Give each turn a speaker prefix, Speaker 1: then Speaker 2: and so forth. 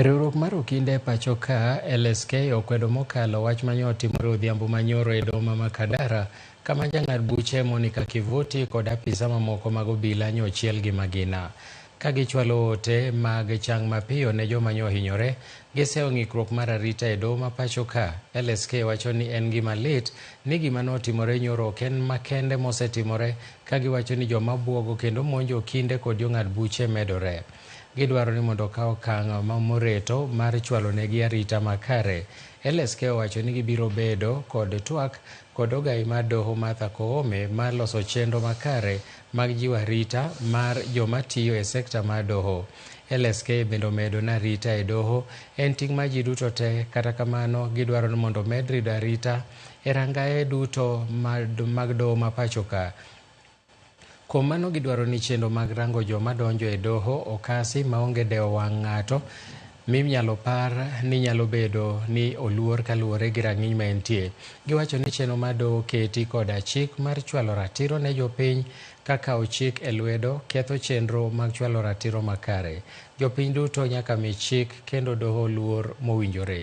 Speaker 1: Riwruok mar okinde e pacho ka LSK okwedo mokalo wach ma nyo otimore odhiambo ma nyoro e doho ma Makadara kama jang'ad buche Monica Kivuti kod apisa mamoko mag obila nyo ochiel gi magina. Ka gichwalo ote mag chang mapiyo ne joma nyo ohinyore, giseyo ng'ikruok mar arita e doho ma pacho ka. LSK wacho ni en gima lit ni gima ne otimore nyoro ok en makende mosetimore ka giwacho ni joma bwogo kendo monjo okinde kod jong'ad buche medore. Gidwaro ni mondo okaw okang' ma moreto mar chwalo negi arita makare. LSK owacho ni gibiro bedo kod twak kod ogayi mar doho Martha Koome mar loso chenro makare mag jiwo arita mar joma tiyo e sekta mar doho. LSK bende omedo ni arita e doho en ting' mar ji duto te kata kamano gidwaro ni mondo omed rido arita e rangaye duto mag doho ma pachoka. Kuom mano gidwaro ni chenro mag rango joma donjo e doho okasi maonge dewo wang' ng'ato minyalo par ni nyalo bedo ni oluor kaluwore gi rang'iny ma entie. Giwacho ni chenro ma doho keti koda chik mar chwalo ratiro ne jopiny ka kawo chik e lwedo ketho chenro mag chwalo ratiro makare. Jopiny duto nyaka mi chik kendo doho luor mowinjore.